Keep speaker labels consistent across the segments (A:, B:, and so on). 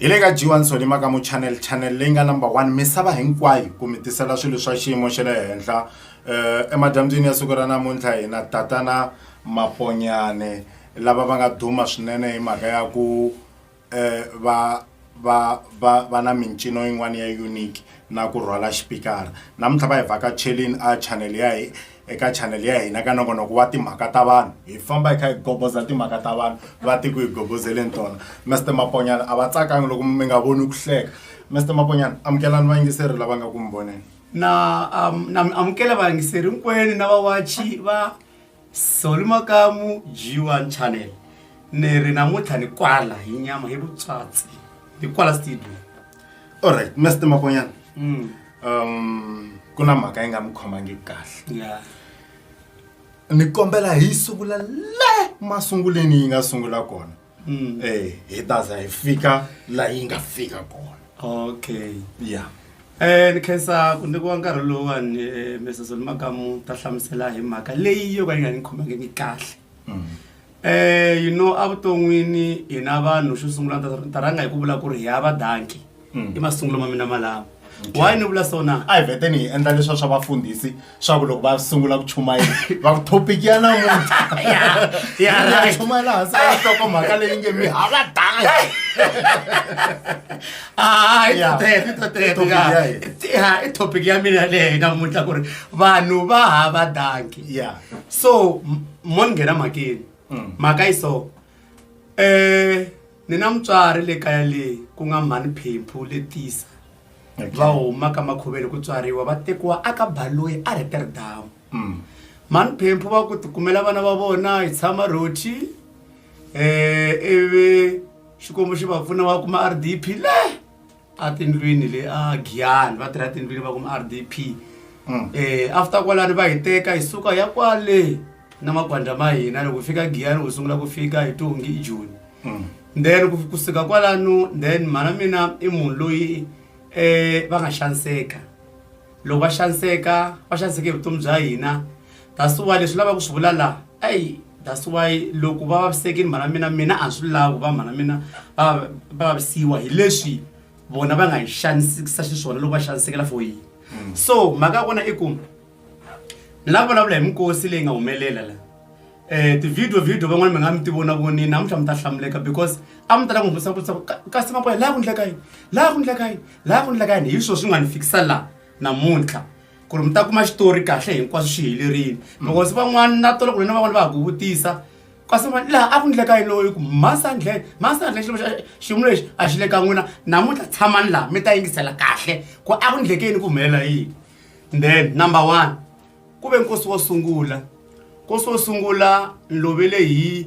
A: hi le ka g1 solima ka mu channel channel leyi nga number one misava hinkwayo ku mi tisela swilo swa xiyimo xa le henhla um emadyambyini ya siku ra namuntlha hina tatana maponyane lava va nga duma swinene hi mhaka ya ku um va va va va na mincino yin'wana ya unique na ku rhwala xipikara namuntlha va hi vhakachelini a channel ya hi eka chanel ya hina ka nongonoko wa timhaka ta vanhu hi famba hi kha hi gogoza timhaka ta vanhu va tiko hi gogozeleni tona mr maponyana a va tsakangi loko mi nga voni ku hleka mr maponyana amukelani vayingiseri lava nga ku mi voneni na um,
B: na amukela vayingiseri hinkwenu na vawachi va soli makamu g1 channel ni ri namuntlha ni kwala hi nyama hi vutswatsi ni kwala studio allright
A: mr maponyana mm. um ku na mhaka yi nga mi khomangi kahle ya ni kombela hi sungula le masunguleni yi nga sungula kona um hi ta za hi fika laha yi nga fika kona okay ya um ni khensa
B: ku nyikiwa nkarhi lowuwani eh, mrs olimakamu ta hlamusela hi mhaka leyi yo ka yi nga ni khomangiki kahle um Eh, you know evuton'wini hina vanhu xo sungula ni ta- ni ta rhanga hi ku vula ku ri hi ya vadanki i masungulo ma mina malama why ni vula sona a hi veteni hi endla leswa
A: swa vafundhisi swa ku loko va sungula ku chumayela va ku thopiki ya namuntlha Yeah, yeah, Ya right.
B: chumayela hansi a
A: hloko mhaka leyi nge mi hava danga Ah, i Yeah. tete, i tete,
B: Topic ya. ya hina. Ya, i topic ya mina leyi namuntlha ku ri vanhu va hava danki ya so
A: m-
B: mo ni nghena mhakeni mhaka yi so um ni na mutswari le kaya leyi ku nga mhani phemphu le tisa va huma ka makhuveni ku tswariwa va tekiwa a ka baloyi a reterdamu mhani phemphu va ku tikumela vana va vona hi tshama rothi um ivi xikwembu xi va pfuna va kuma r d p le a tindlwini le a giyani va tirha tindlwini va kuma rdp um after kwalani va hi teka hi suka ya kwale na makwandla ma hina loko hi fika giyani wu sungula ku fika hi tongi i joni then ku- ku suka kwalano then mhana mina i munhu loyi um va nga xaniseka loko va xaniseka va xaniseke hi vutomi bya hina that's why leswi lavaka ku swi vula laha eyi that's why loko va vavisekile mhana mina mina a swi lavi ku va mhana mina va va vavisiwa hi leswi vona va nga hi xanisekisa xiswona loko va xanisekela for yini hmm. so mhaka ya kona i ku ni lava vulavula hi minkosi leyi nga humelela la um ti-video video van'wana mi nga mi ti vona vonini namuntlha mi ta hlamuleka because a mi tala ku humesa ku kasi maboya laha ku ndleka yini laha ku ndleka yini laha ku endleka yini hi swona swi nga ni fikisa laha namuntlha ku ri mi ta kuma xitori kahle hinkwaswo swi helerile because van'wana na tolo ku ri na van'wana va ha ku vutisa kasi van'wana laha a ku endleka yini loyi ku masandlhen masandlhen xilo xa xiyimo lexi a xi le ka n'wina namuntlha tshamani laha mi ta yingisela kahle ku a ku endleke yini ku humelela yini then number one ku ve nkosi wo sungula nkosi wo sungula ni lovele hi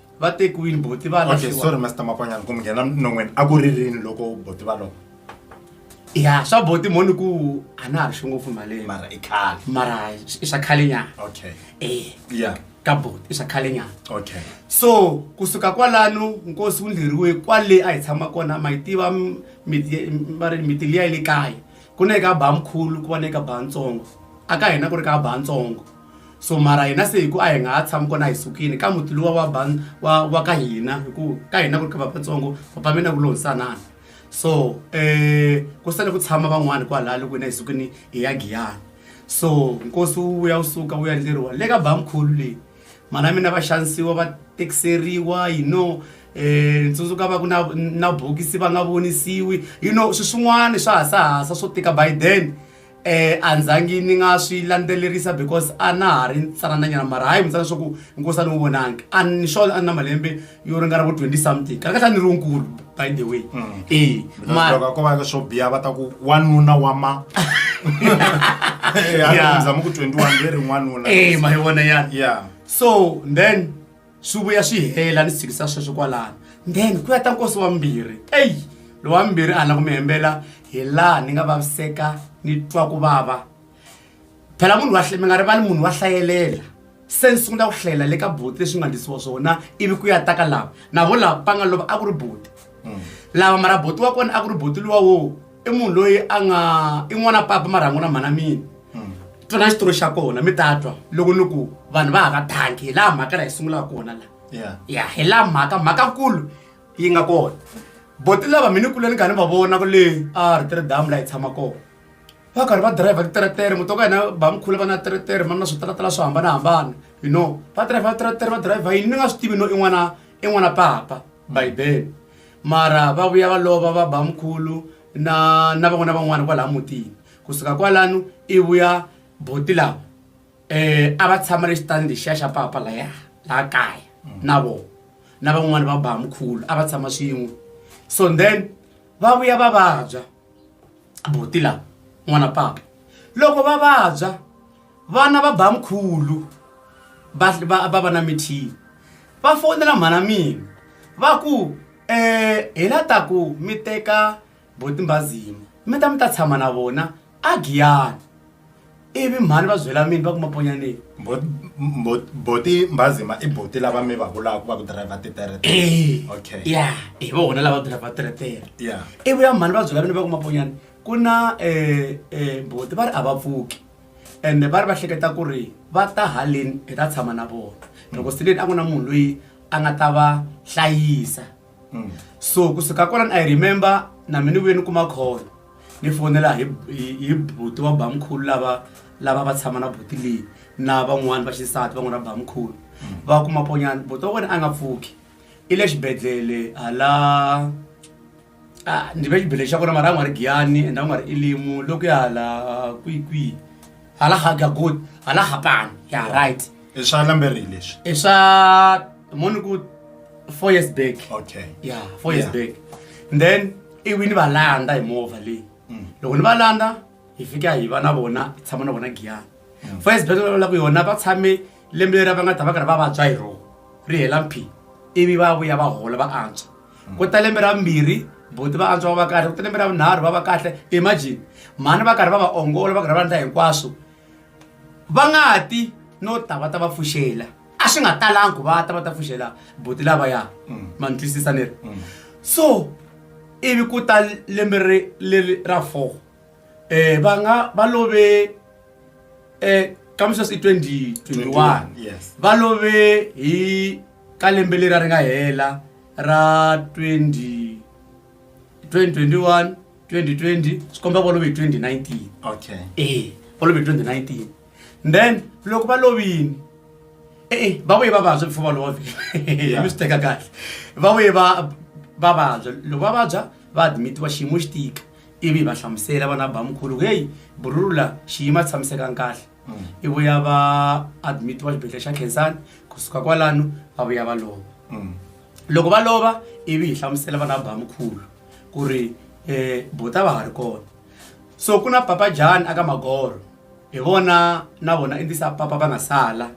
B: va tekiwile
A: boti va okay lahliwa. sorry master makwanyana
B: ku
A: mi nghena non'weni a
B: ku ri
A: rini loko boti
B: va
A: loko
B: ya swa boti moni ku a na ha ri swi ngopfu maleni mara i khale mara
A: i swa
B: khale nyana okay
A: e ya
B: ka boti i swa khale nyana okay so kusuka kwalano nkosi wu ndlheriwe kwale a hi tshama kona ma yi tiva m- miti ye- m- va ri miti liya yi le kaya ku na eka ba mkhulu ku va na eka ba ntsongo a ka hina ku ri ka ba ntsongo so mara hina se hi ku a hi nga ha tshami kona hi sukile ka muti luwa wa ban wa wa ka hina hi ku ka hina ku ri ka va vatsongo papa mina ku lohisanana so um ku sale ku tshama van'wani kwalaya loko hina hi sukini hi ya giyana so nkosi wu vuya wu suka wu yandleriwa le ka bamkhulu leyi mana mina va xanisiwa va tekiseriwa you know um ni tsundzuka va ku na na bokisi va nga vonisiwi you know swi swin'wana swa hasahasa swo tika by then um a ndzangi ni nga swi landzelerisa because a na ha ri ntsanananyana mara hayi mitsana swa ku nkosi a ni n'wi vonangi a ni swona a ni na malembe yo ringana vo twenty something kahle kahle a ni ri wunkulu by the way mm. e
A: loko ko va ka swo biya va ta ku wanuna wa ma zama ku twenty one ve ri n'wanuna e ma yi vona ya
B: so
A: then
B: Swi vuya swi hela ni tshikisa sweswo kwalano then ku ya ta nkosi wa vumbirhi eyi lowa vumbirhi a na ku mi hembela hi laha ni nga vaviseka ni twa ku vava phela munhu wa mi nga rivali munhu wa hlayelela se ni sungula ku hlayela le ka buti leswi nga ndlisiwa swona ivi ku ya ta ka lava na vo lava va nga lova a ku ri buti lava mara buti wa kona a ku ri buti luwa wo i munhu loyi a nga i n'wana papa marhangu na mhana mina hmm. twana xitori xa kona mi ta twa loko ni ku vanhu va hava thanki hi laha mhaka la hi sungulaka kona la ya hi laha mhaka mhakakulu yi nga kona boti lava mi ni kule ni kha ni va vona ku le a ri tiri damu la hi tshama kona va karhi va drive titeretere muti wa ka hina ba mikhule va na teretere ma na switaratela swo hambanahambana you know va drive teretere va drive yini ni nga swi tivi no i n'wana i n'wana papa bibele mara va vuya va lova va ba mkhulu na na van'wana na van'wana kwalaya mutini kusuka kwalano i vuya buti lava um a va tshama le xitandi lexiya xa papa laya laha kaya na vona na van'wani va ba mkhulu a va tshama swin'we so then va vuya va vabya. buti la n'wana papa loko va vabya vana va ba mkhulu va va va va na mithivi va fonela mhana mina va ku um hi la ta ku mi teka botimbazima mi ta mi ta tshama na vona a giyani. ivi mhani va zwela mini va ku maponyaneni
A: boti mbazima i boti lava mi va vulaka va ku driver titeretere eh, okay ya hi vona
B: lava driver teretere ya ivi ya
A: mhani va byela
B: vini va ku maponyana ku na eh, eh, boti va ri a va pfuki and va ri va hleketa ku ri va ta haleni hi ta tshama na vona loko sileni a ku na munhu loyi a nga ta va hlayisa mm. so kusuka kwalani i remember na mi ni vuye ni kuma khona ni fonela hi hi buti wa bamkhulu lava lava va tshama na buti leyi na van'wani va xisati van'wana va bamkhulu mm. va kuma ponyana buti wa wena a nga pfuki i le xibedhlele hala ah, ni ve xibedhlele xa kona mara a nga ri giyani and a nga ri ilimu loko ya hala kwikwihi hala ha ga good hala ha pan ya right i swa lambe ri
A: leswi i swa
B: moni ku 4 years back okay ya
A: 4 years back
B: and then i wini va landa hi movha leyi mm. loko ni va landa hi fika hi va na vona hi tshama na vona giyana mm. 4 years back la ku yona va tshame lembe leri va nga ta va karhi va vabya hi rona ri hela mphi ivi va vuya va hola va antswa ku ta lembe ra vumbirhi buti va antswa va va kahle ku ta lembe ra vunharhu va va kahle imagine mhani va karhi va va ongola va karhi va endla hinkwaswo va nga ti no ta va ta va pfuxela a swi nga talangi ku va ta va ta pfuxela buti lavaya mm. ma ni twisisa ni ri mm. so ivi ku ta lembe leri ra four um va nga va love um eh, kamisa si twenty twenty one va
A: love
B: hi Ka lembe leriya ri nga hela ra 2021, 2020 swi komba va love hi 2019. Okay. E
A: va love hi
B: 2019. Then loko va lovini e e va vuye va vabya before va love. Yeah. Mi swi teka kahle. Va vuye va va vabya loko va vabya va admitiwa xiyimo xi tika ivi hi va hlamusela vana bamkhulu ku heyi burula xiyimo a tshamisekanga kahle ivo ya va admit wa xibedhlele xa khensani kusuka kwalano va vuya va lova mm. loko va lova ivi hi hlamusela vana ba mukhulu ku ri um bota va ha ri kona so ku na papa jani aka magoro hi vona na vona endisa papa va nga sala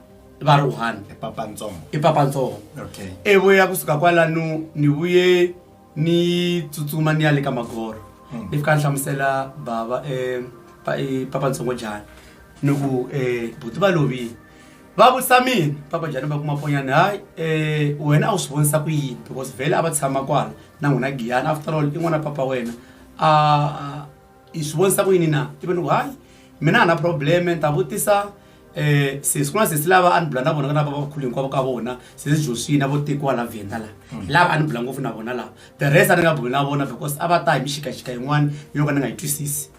B: va ri one i papa ntsongo i papa ntsongo okay ivo ya kusuka kwalano ni vuye ni tsutsuma ni ya le ka magoro hmm. ni fika ni hlamusela bava eh, eh, papa ntsongo jani ni ku um eh, buti va lovile va vutisa mina papa jani va kuma ponyani hayi um wena a wu swi vonisa ku yini because vhele a va tshama kwala na n'wina giyani after all i n'wana papa wena a i swi vonisa ku yini na ivi ni ku hayi mina a na probleme ni ta vutisa um sesi ku na sesi lava a ni bula na vona ka na va vakhulu hinkwavo ka vona sesi josie na vo tekiwa la vhenda la hi lava a ni bula ngopfu na vona lava the rest a ni nga buli na vona because a va ta hi mixikaxika yin'wana yo ka ni nga yi twisisi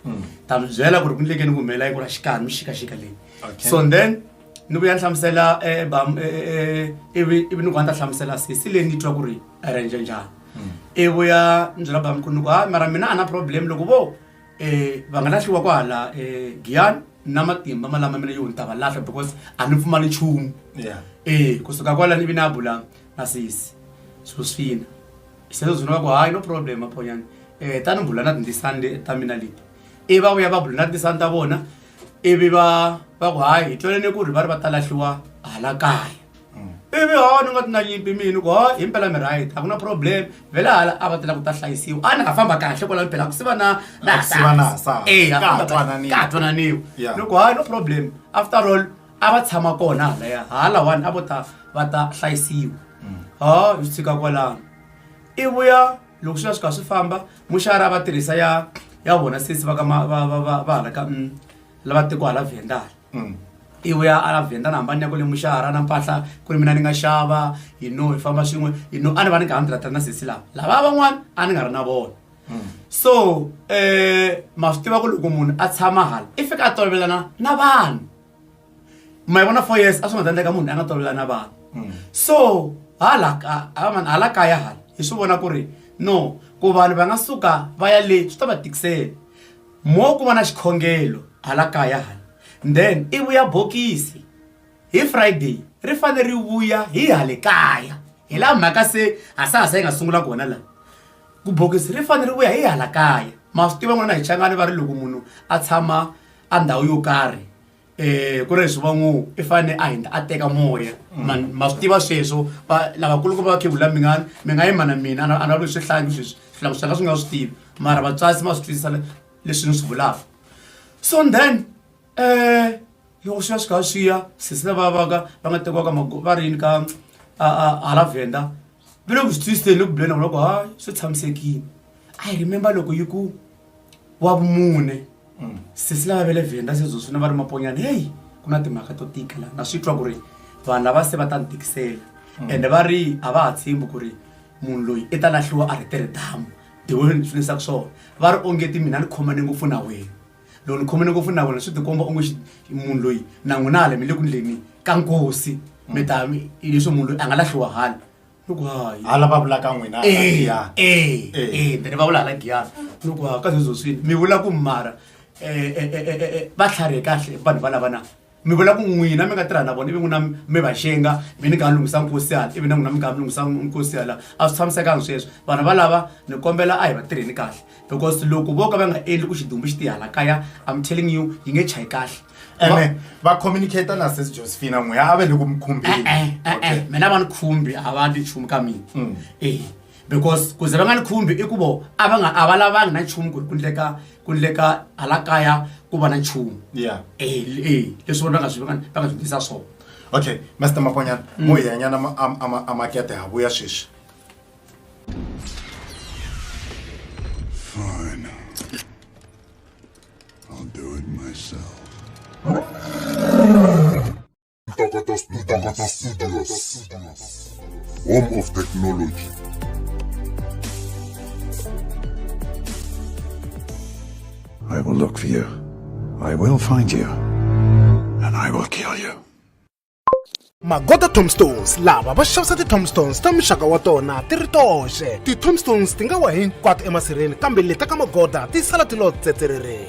B: ta mi byela ku ri ku ni leke ni ku humelela yi ku ra xikani mixikaxika leyi Okay. so then ni vuya ni hlamusela eh, bam- eh, eh, eh, ivi ivi ni ku a ni ta hlamusela sesi leyi ni twa ku ri arrange njhani i vuya ndzi rhamba mi ku ni ku hayi mara mina a na problem loko vo um va nga lahliwa kwahala um giyani na matimba ma lama mina yo ni ta va lahla because a ni pfumali nchumu Yeah. e kusuka kwalano ivi na bula na sesi so swi fina sweswo zwi ni va ku hayi no problem maphonyana um ta ni bula na tindisani le- ta mina leti ivi va vuya va bula na tindisani ta vona ivi va va ku hayi hi twelene ku ri va ri va ta lahliwa hala kaya ivi hawa ni nga ti na nyimpi mini ku ha hi mpela mi right a ku na problem vele hala a va tela ku ta hlayisiwa a ni nga famba kahle kwala mpela ku siva na na ka twananiwa ni ku ha no problem after all a va tshama kona halaya hala one a vo ta va ta hlayisiwa mm. ha hi swi tshika kwalano i vuya loko swi va swi kha swi famba muxara va tirhisa ya ya vona sesi va ka va va va va hala ka mm, lava tiko hala vhendala mm. iwe a a vhenda na hambani ya ku lemuxa hara na mpahla ku ri mina ni nga xava yi no hi famba swin'we yi no a ni va ni nga ha ni tirhatira na sesi lava lava van'wana a ni nga ri na vona mm. so um ma swi tiva ku loko munhu a tshama hala i fika a tolovelana na vanhu ma yi vona four years a swi nga ta endleka munhu a nga tolovelana na vanhu mm. so hala hala kaya hala hi swi vona ku ri no ku vanhu va nga suka va ya le swi ta va tikisela Mo ku va na xikhongelo hala kaya hala, then i vuya bokisi hi Friday ri fanele ri vuya hi hale kaya. Hi laha mhaka se ha saha se hi nga sungula kona laha. Ku bokisi ri fanele ri vuya hi hala kaya. Ma swi tiva n'wina hi Changani va ri loko munhu a tshama a ndhawu yo karhi, um ku ri leswi va ngo i fanele a hindza a teka moya ma ma swi tiva sweswo va lavakulukumba va khegula mi nga mi nga yima na mina a ni lavi swihlangi sweswi swihlangi swi nga swi nga swi tivi mara vatswasi ma swi twisisa leswi ni swi vulaka so then um loko swi ya swi kha swi ya sesi lava vaka va nga tekiwaka va ri yini ka hala vhenda va le ku swi twisiseni loko buleni loko hayi swi tshamisekile i remember loko yi ku wa vumune mm. sesi lava ve le venda sezo swi na va ri maponyana heyi ku na timhaka to tika laha na swi twa ku ri vanhu lava se va ta ni tikisela mm. ende va ri a va ha tshembi ku ri munhu loyi i ta lahliwa a ri tirhi damu the way ni swi leswaku swona va ri ongeti mina ni khomane ngopfu na wena loko ni khomene ngopfu na vona swi tikomba onge munhu loyi na n'wina hala mi le ku ndleni ka nkosi mi ta leswi munhu loyi a nga lahliwa hala loko hayi hala va vulaka
A: n'wina
B: then va vula hala giyana loko ha ka zezoswini mi vula ku mara um va tlharihe kahle vanhu va lava na mi vula ku n'wina mi nga tirha na vona ivi n'wina mi va xenga mi ni nga lunghisa nkosiyana ivi na n'wina mi nga mi lunghisa nkosiyana a swi tshamisekanga sweswo vanhu valava ni kombela a hi va tirheni kahle because loko vo ka va nga endli ku xidumbu xi tihala kaya am telling you yi nge chayi kahle ene va
A: communicate na sesi josephina n'weya a va le ku mi khumbeni mina va ni khumbi
B: a va ni nchumu ka mina mm. ehe because ku ze va nga ni khumbi i ku vo a va nga a va lavangi na nchumu ku ri ku ndleka ku ndleka hala kaya ku va na nchumu yeah e e leswi vona va nga swi va nga va nga swi ndlisa swona okay master
A: makonyana mo hi yanyana ma- am- ama- amakete ha vuya sweswi
C: Fine. I'll do it myself. Ntokoto Studios. Home of Technology. I will look for you. I will find you. And I will kill you.
D: magoda tombstones lava va xavisa ti-tombstones ta muxaka wa tona ti ri toxe ti-tombstones ti nga wa hinkwato emasirheni kambe leta ka magoda ti sala ti lo tsetserereni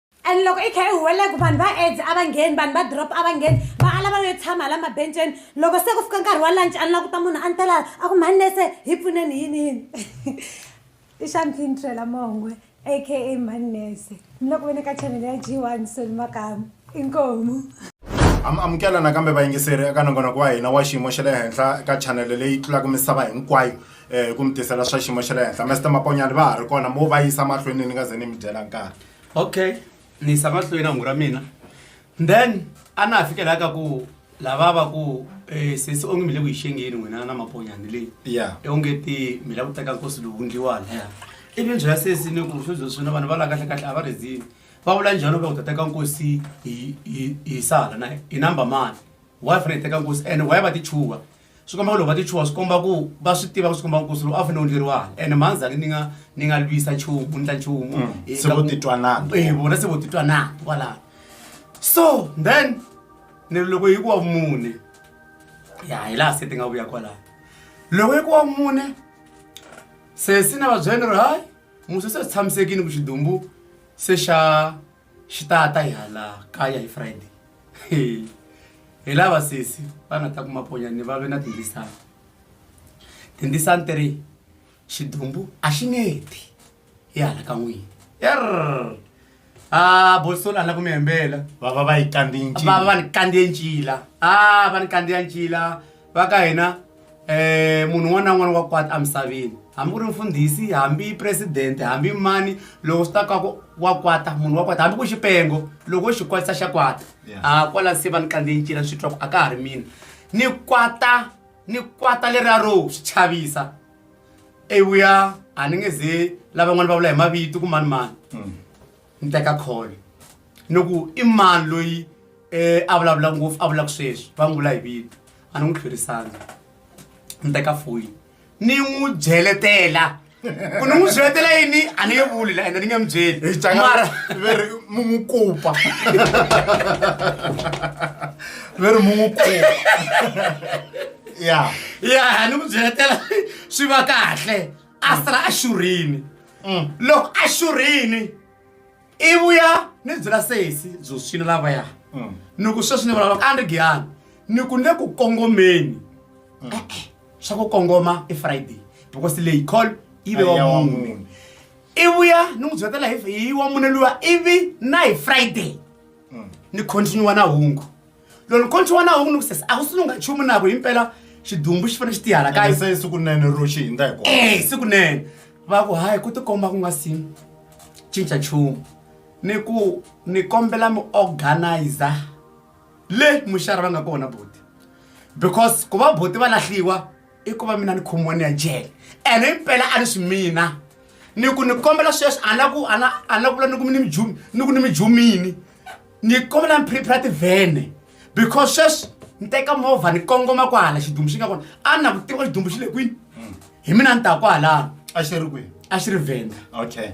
E: and loko i kha i huwelela ku vanhu
D: va
E: aids a va ngheni vanhu va drop a va ngheni va ala va yo tshama la mabenceni loko se ku fika nkarhi wa lunch a ni la ku ta munhu a ni telala a ku mhani nese hi pfuneni yini yini i xampini twela mongwe aka mhani nese ni loko ve ni ka chanele ya g one soni makamu inkomu am
A: amukela nakambe vayingiseri eka nongonoko wa hina wa xiyimo xa le henhla eka chanele leyi tlulaka misava hinkwayo um ku mi tisela swa xiyimo xa le henhla mester maponyani va ha ri kona mo va yisa mahlweni ni nga ze ni mi dyela nkarhi okay
B: ni yisa mahlweni hungu ra mina then a na ha fikela ka ku lava va ku eh, sesi onge mi le ku yi xengeni n'wina na maponyani leyi ya onge ti
A: mi la ku
B: teka nkosi lowu ndliwani ivi byela sesi ni ku swo byo swina vanhu va la kahle kahle a va rezini va vula njhani va ku ta teka nkosi hi- hi hi sala na hi namba mani why fanele hi teka nkosi and why va ti chuha swi komba ku loko va ti chuha swi komba ku va swi tiva ku swi komba nkosi lowu a fanele wu ndleriwa and mandzhani ni nga ni nga lwisa nchumu ni ndla nchumu Mm. Eh, Se ka vo ku- titwa
A: nandzu. Eh, vona se vo titwa
B: nandzu kwalano so then ni ri loko yi ku wa vumune ya hi laha se ti nga vuya kwalano loko yi ku wa vumune se si na vabyeni ri hayi musa se tshamisekini ku xidumbu se xa xi ta ta hi hala kaya hi friday hi lava sesi va nga ta kuma ponyani va ve na tindisani tindisani ti ri xidumbu a xi nge ti hi hala ka n'wini er a bosolo a la ku mi hembela va va va yi kandziye
A: ncila va va va ni kandziye ncila
B: a va ni kandziya ncila va ka hina um munhu un'wana na un'wana wa kwata emisaveni hambi ku ri mfundhisi hambi presidente hambi mani loko swi ta ka ku wa kwata munhu wa kwata hambi ku xipengo loko xi kwatisa xa kwata a kwala se va ni kandze ncila ni swi twa ku a ka ha ri mina ni kwata ni kwata leriya ro swi chavisa evuya a ni nge ze lavan'wana va vula hi mavito ku mani mani hmm. ni teka call ni ku i mani loyi um a vulavula ngopfu a vulaka sweswi va n'wi vula hi vito a ni n'wi tlherisanga ni teka foyini ni n'wi byeletela ku ni n'wi byeletela yini a ni nge vuli la ende ni nge mi byelimara
A: mu n'wi kupa ve ri mu n'wi kupa ya ya
B: ni n'wi byeletela swi va kahle a sala a xurhini mm. loko a xurhini i vuya ni byela sesi byo swina lavaya mm. ni ku sweswi ni vulavula a ni giyani ni ku le ku kongomeni mm. e-e swa ku kongoma i friday because leyi call yi ve wa mune i vuya ni n'wi byetela hi wa mune luwa ivi na hi friday ni continue na hungu lolo konchi wana hungu nukusesa akusununga chumu nako impela xidumbu xi fane xi tihala kayi se siku nene ro xi
A: hindza hi kona eh siku nene va ku
B: hayi ku tikomba ku nga si cinca chumu ni ku ni kombela mi organizer le muxari va nga kona buti because ku va buti va lahliwa i ku va mina ni khomiwa ni ya jele ene impela a ni swi mina ni ku ni kombela sweswi a na ku a na a na ku vula ni ku mi ni mijumi ni ku ni mijumini ni kombela ni phiriphira tivhene because sweswi ni teka movha ni kongoma kwahala xidumbu xi nga kona a ni na ku tiva xidumbu xi le kwini hi mina ni ta kwahalano a xi ri kwihi
A: a xi ri venda
B: okay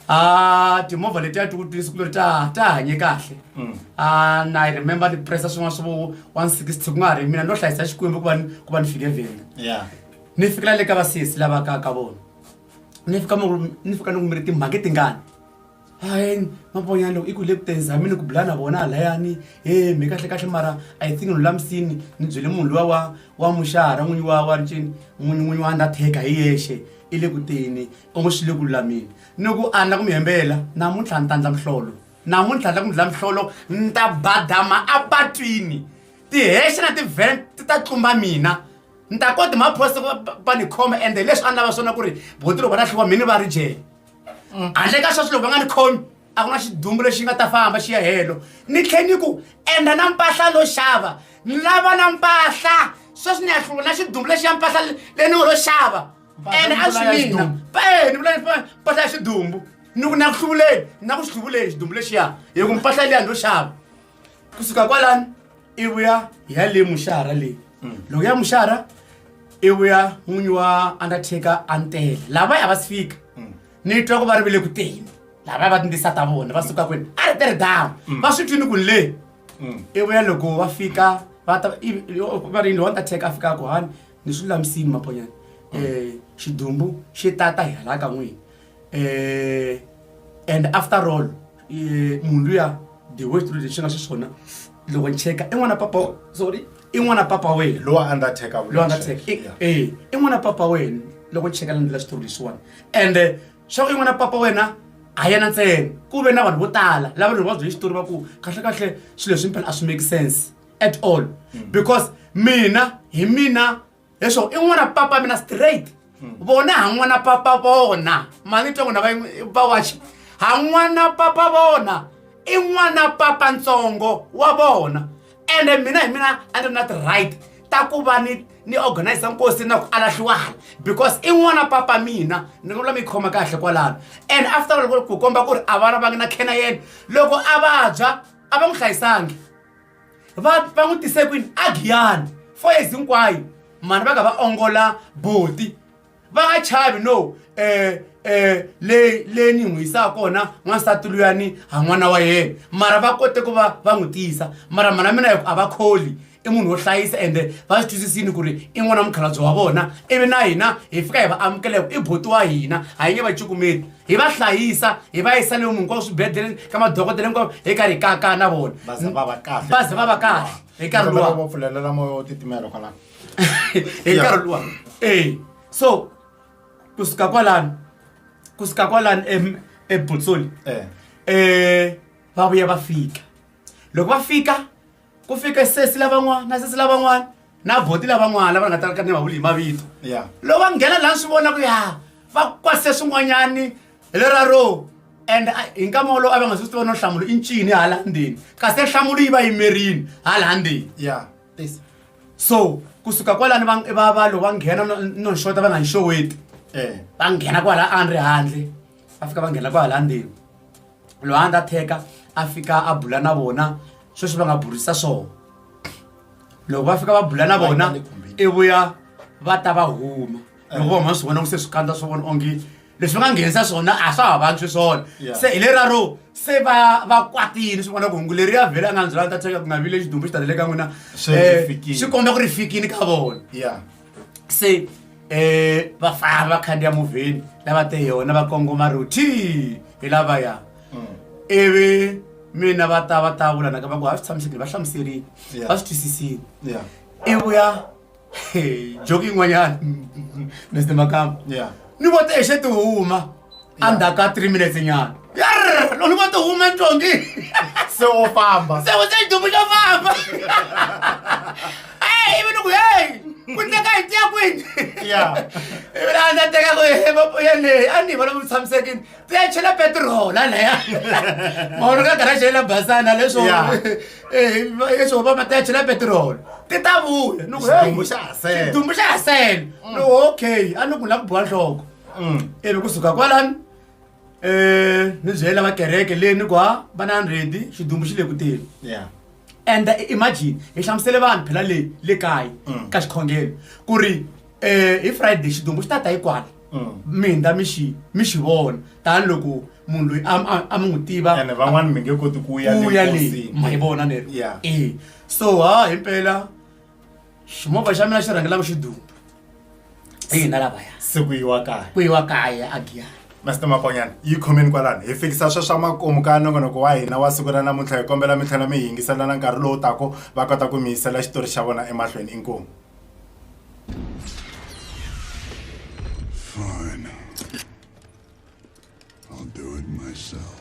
A: a
B: timovha letiya ti ku twisi ku ri ta ta hanye kahle Mm. a na i remember ni pressa swin'wana swa vo 160 ku nga ha ri mina no hlayisa xikwembu ku va ni ku va ni fike venda ya ni fikela le ka vasesi lava ka ka vona ni fika mi ku- ni fika ni ku mi ri timhange tingani hayini maponyana loko i ku le ku tirhisa hambi ni ku bula na vona halayani he mhe kahle kahle mara i think ni lulamisini ni byele munhu luya wa wa muxara n'winyi wa wa ncini n'winyi n'winyi wa undertaker hi yexe i le ku teni u ngo swi le ku lulameni ni ku a ni la ku mi hembela namuntlha ni ta ndla mihlolo namuntlha ni la ku mi ndla mihlolo ni ta badama apatwini tihexe na tivhen ti ta tlumba mina ni ta koti maphorisa va ni khoma ende leswi a ni lava swona ku ri boti loko va lahliwa mhini va ri jele mm. handle ka sweswi loko va nga ni khomi a ku na xidumbu lexi nga ta famba xi ya helo ni tlhe ni ku endla na mpahla lo xava ni lava na mpahla sweswi ni ya hluva na xidumbu lexi ya mpahla leyi ni ngo lo xava ene a swi mina e ni vula mpahla ya xidumbu ni ku na ku hluvuleni na ku swi hluvuleni xidumbu lexiya hi ku mpahla leyi ya ni lo xava kusuka kwalani i vuya hi ya le muxara leyi loko ya muxara i vuya n'winyi wa undertaker a ni tele lavaya a va si fika ni twa ku va ri vile ku teni lavaya va tindisa ta vona va suka kwini a ri teri dawu va swi twini ku ni le i vuya loko va fika va ta i- yo- va ri yini undertaker a fika ku hani ni swi lulamisini maponyana um xidumbu xi tata hi hala ka n'wini eh and after all eh, munhu luya the way xitulu lexi nga xiswona loko ni cheka i n'wana papa wa- sorry i n'wana papa wena lowa undertaker loyi a
A: nga check. tsheki Yeah.
B: e i n'wana papa wena loko ni cheka landlela xitori lexiwani and eh, swa ku i n'wana papa wena a yena ntsena ku ve na vanhu vo tala lava ri va bye xitori va ku kahlekahle swilo leswi mpela a swi make sense at all because mina hi mina leswo i n'wana papa mina straight hmm. vona ha n'wana papa vona mali tongo na vawaxi ha n'wana papa vona i n'wana papa ntsongo wa vona ende mina hi mina a ni ri na ti-right ta ku va ni ni organize nkosi na ku alahliwala because i n'wana papa mina ni nga vula mi khoma kahle kwalano and after all ku komba ku ri a vana va nga na khena yena loko a vabya a va n'wi hlayisangi va va n'wi tise kwini a giyani four years hinkwayo mhani va ka va ongola buti va nga chavi no um um leyi leyi ni n'wi yisaka kona n'wansati luyani ha n'wana wa yena mara va kote ku va va n'wi tiyisa mara mhana mina hikuva a va kholi i munhu wo hlayisa ende va swi twisisini ku ri i n'wana mukhalabye wa vona ivi na hina hi fika hi va amukela hi ku i buti wa hina ha yi nge va cukumeli hi va hlayisa hi va yisa lomu hinkwavo swibedhlele ka madokodela hinkwavo hi karhi hi kaka na vona va ze va va kahle va
A: ze va va kahle hi nkarhi luwa
B: va pfulelela moya wo
A: titimela kwalano hi
B: nkarhi luwa e so kusuka kwalano kusuka kwalano ebutsoli um eh. eh, va vuya va fika loko va fika ku fika sesi lavan'wana na sesi lavan'wana na vhoti lavan'wana lava nga talaka ni vavuli hi mavito loko va nghena laha swi vona ku ya va kwase swin'wanyani hi lera ro and hi nkama wolowo a va nga swi tiva no nhlamulo i ncini hala ndzeni kasi nhlamulo yi va yimerini hala ndzeni ya so kusuka kwalani va va lo va nghena no nxota va nga nxoweti eh. va nghena kwala a ni ri handle va fika va nghena kwala ndzeni loyi a nga theka a fika a bula na vona sweswi va nga burisa swona loko va fika va bula na vona i vuya va ta va huma loko va huma swi vona ku se swikandza swo vona onge leswi va nga nghenisa swona a swa ha vantshwi swona se hi leraro se va va kwatile swi vona ku hungu leri ya vhele a nga ndzela ta theka ku nga vile xidumbu xi talele ka n'wina um swi komba ku ri fikile ka vona se eh va famba va khandziya movheni lava te yona va kongoma roti hi lavaya ivi mina va ta va ta vula naka va ku ha swi tshamisekile va hlamuserile Yeah. va swi twisisile Yeah. i vuya he, joki yin'wanyana mr makamba Yeah. ni vo te xe ti huma endzhaku ka three minutes nyana Yarr! lolu va ti hume ntongi se wo
A: famba se u se dumu xo
B: famba ey ivi ni ku hey ku teka hi tiya kwini ya ivi laha ndza teka ku ya leyi a ni vona ku tshamisekini ti ya chela petiroli alaya maholo ka garaxi yela basana leswo Yeah. leswo va ma ti ya chela petiroli ti ta vuya ni ku hey Xidumbu xa ha sele. xidumbu xa ha sele ni ku okay a ni ku la ku biwa nhloko Mm. ivi kusuka kwalani um ni byela va kereke leyi ni ku ha va na hundred xidumbu xi le ku teni Yeah. and i- imagine hi hlamusele vanhu phela le le kaya Mm. ka xikhongelo ku ri um hi friday xidumbu xi ta ta yi kwala Mm. minda mi xi mi xi vona tanihiloko munhu loyi a a- a mi n'wi tiva ene van'wana mi nge koti
A: ku ya ku ya le enkosini. ma yi vona
B: neri Yeah. e so ha himpela ximovha xa mina xi rhangela ku xi duma hina lavaya se ku yiwa kaya
A: ku yiwa kaya
B: a giyani master makonyana
A: yi khomeni kwalano hi fikisa swa swa makumu ka nongonoko wa hina wa siku ra namuntlha hi kombela mi tlhela mi hi yingiselana nkarhi lowu tako va kota ku mi yisela xitori xa vona emahlweni inkomu
C: Fine. I'll do it myself.